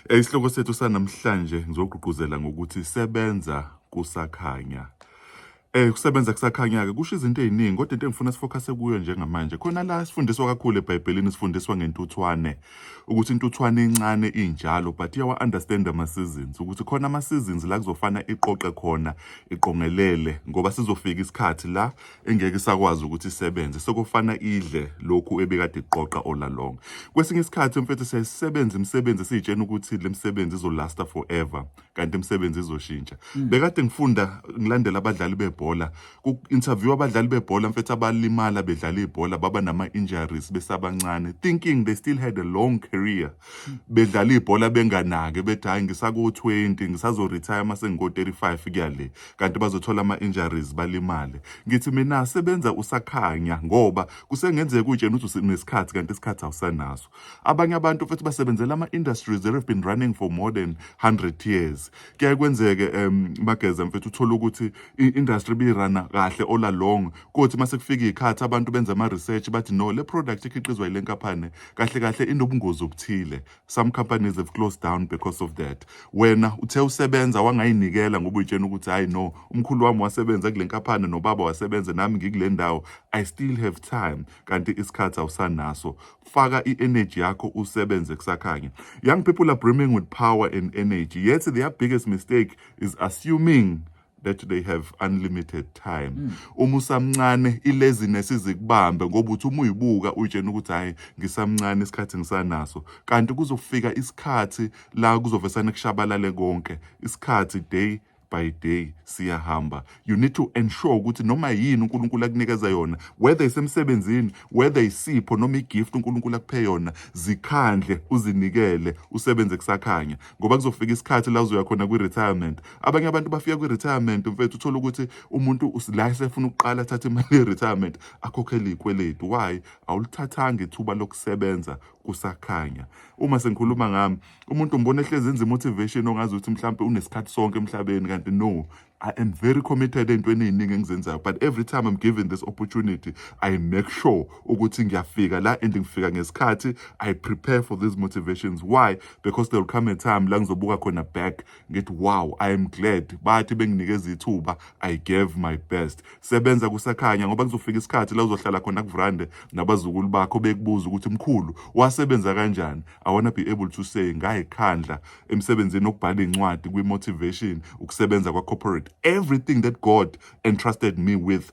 Eh, isihloko sethu sanamhlanje ngizogqugquzela ngokuthi sebenza kusakhanya. Eh kusebenza kusakhanya-ke kusho izinto ey'ningi kodwa into engifuna sifokase kuyo njengamanje khona la sifundiswa kakhulu ebhayibhelini sifundiswa ngentuthwane ukuthi intuthwane incane injalo but iyawa-understand ama-seasons ukuthi khona ama-seasons la kuzofana iqoqe khona iqongelele ngoba sizofika isikhathi la engeke isakwazi ukuthi isebenze sekufana idle lokhu ebekade iqoqa all along kwesinye isikhathi mfethu siyayisebenza imisebenzi siyitshena ukuthi le misebenzi izolasta forever kanti imisebenzi izoshintsha mm. bekade ngifunda ngilandela abadlali bebhola ku-interview abadlali bebhola mfethu abalimala bedlala ibhola baba nama-injuries besabancane thinking they still had a long career mm. bedlala ibhola benganake bethi hhayi ngisaku-20 ngisazoretire uma sengiko-35 kuyale kanti bazothola ama-injuries balimale ngithi mina sebenza usakhanya ngoba kusengenzeka utshena ukuthi unesikhathi kanti isikhathi awusanaso abanye abantu futhi basebenzela ama-industries that have been running for more than 100 years kuyaye kwenzeke um mageza mfethu uthole ukuthi i-industry biyirana kahle all along kothi uma sekufika iy'khathi abantu benza ama-research bathi no le product ekhiqizwa yile nkampani kahle kahle inobungozi obuthile some companies have closed down because of that wena uthe usebenza wangayinikela ngoba uyitshena ukuthi hayi no umkhulu wami wasebenza kule nkaphane nobaba wasebenza nami ngikule ndawo i still have time kanti isikhathi awusanaso faka i-energy yakho usebenze kusakhanya young people are brimming with power and energy yet their biggest mistake is assuming that they have unlimited time mm. uma usamncane ilaziness izikubambe ngoba uthi uma uyibuka uyitshena ukuthi hayi ngisamncane isikhathi ngisanaso kanti kuzofika isikhathi la kuzovesana kushabalale konke isikhathi day by day siyahamba you need to ensure ukuthi noma yini uNkulunkulu akunikeza yona whether isemsebenzini whether isipho noma igift uNkulunkulu akuphe yona zikhandle uzinikele usebenze kusakhanya ngoba kuzofika isikhathi la uzoya khona kwi retirement abanye abantu bafika kwi-retirement mfethu uthole ukuthi umuntu la esefuna ukuqala athathe imali ye-retirement akhokhele iy'kweletu why awulithathanga ithuba lokusebenza kusakhanya uma sengikhuluma ngami umuntu umbona ehlezi enza i-motivation ongazi ukuthi mhlawumpe unesikhathi sonke emhlabeni kanti no I am very committed entweni eziningi engizenzayo but every time I'm given this opportunity I make sure ukuthi ngiyafika la and ngifika ngesikhathi I prepare for these motivations why because there will come a time la ngizobuka khona back ngithi wow i am glad bathi benginikeza ithuba i gave my best sebenza kusakhanya ngoba kuzofika isikhathi la uzohlala khona kuvrande nabazukulu bakho bekubuza ukuthi mkhulu wasebenza kanjani i wanna be able to say ngayikhandla emsebenzini okubhala incwadi kwi motivation ukusebenza kwa corporate everything that god entrusted me with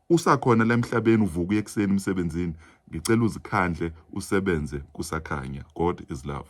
Usakhona la emhlabeni uvuka ekuseni emsebenzini ngicela uzikhandle usebenze kusakhanya God is love.